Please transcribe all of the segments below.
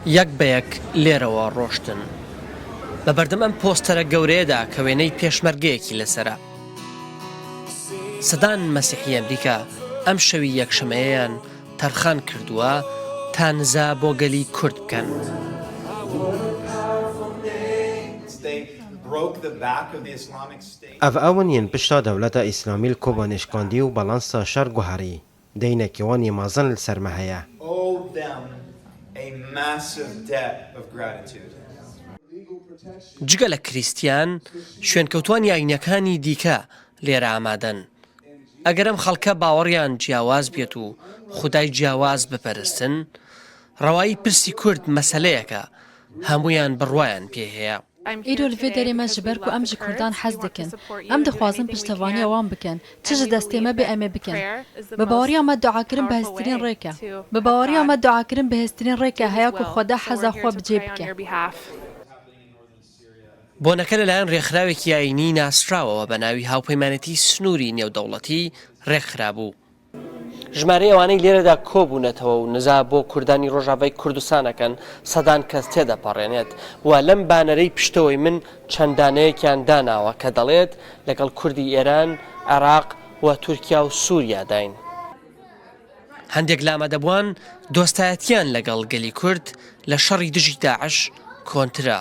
یەک بە یەک لێرەوە ڕۆشتن. بە بەردەم ئەم پۆستەرە گەورەیەدا کە وێنەی پێشمەرگەیەکی لەسەرە. سەدان مەسیحی ئەمریکا ئەم شەوی یەکشەمەیەیان تەرخان کردووە تا نزا بۆ گەلی کورد بکەن. ئەڤ ئەون یەن پشتا دەولەتە ئیسلامیل کۆبانێ شکاندی و بەڵانسە شەر گوهاری. دەی نە کێوان یێ مازن ل سەر مە هە یە. owe them a massive debt of gratitude. جگە لە کریستیان، شوێنکەوتوانی ئایینەکانی دیکە لێرە ئامادەن. ئەگەر ئەم خەڵکە باوەڕیان جیاواز بێت و خودای جیاواز بپەرستن، ڕەوایی پرسی کورد مەسەلەیەکە هەموویان بڕوایان پێی هەیە. ئیرۆ لڤێ دەرێ مە ژ بەرکو ئەم ژ کوردان حەز دکن ئەم دخوازن پشتەڤانی ئەوان بکەن چ ژ دەستێ مە بێ ئەمێ بکەن بە باوەڕیا مە دوعا کرن بە هزترین ڕێ کە بە باوەڕیا مە دوعا کرن بە هێزترین ڕێ کە هەیە کو خوەدا حەزا خوە بجێ بکە. بۆنەکە لەلایەن رێکخراوێکی ئایینیی ناسراوەوە بە ناوی هاوپەیمانێتیی سنووری نێودەوڵەتی رێکخرابوو، ژمارەی ئەوانەی لێرەدا کۆبوونەتەوە و نزا بۆ کوردانی ڕۆژاڤای کوردستان ئەکەن سەدان کەس تێدەپەڕێنێت و لەم بانەرەی پشتەوەی من چەند دانەیەکیان داناوە کە دەڵێت لەگەڵ کوردی ئێران، عێراق و تورکیا و سوریاداین. هەندێک لە ئامادەبووان دۆستایەتییان لەگەڵ گەلی کورد لە شەڕی دژی داعش کۆنترە.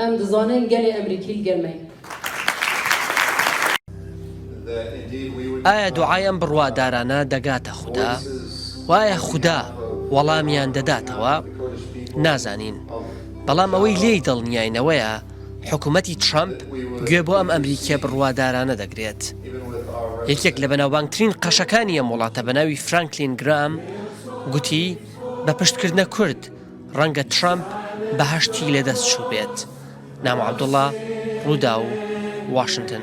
ئەم دزانەن گەلێ ئەمریکیل گەرمەی. ئایا دوعای ئەم بڕوادارانە دەگاتە خودا؟ و ئایا خودا وەڵامیان دەداتەوە؟ نازانین. بەڵام ئەوەی لێی دڵنیاینەوەیە حکومەتی ترەمپ گوێ بۆ ئەم ئەمریکیە بڕوادارانە دەگرێت. یەکێک لە بەناوبانگترین قەشەکانی ئەم وڵاتە بەناوی فرانکلین گرام گوتی بە پشتکردنە کورد، ڕەنگە ترەمپ بەهەشتی لەدەست چووبێت. نامۆ عەبدوڵا، رووداو، واشنتن.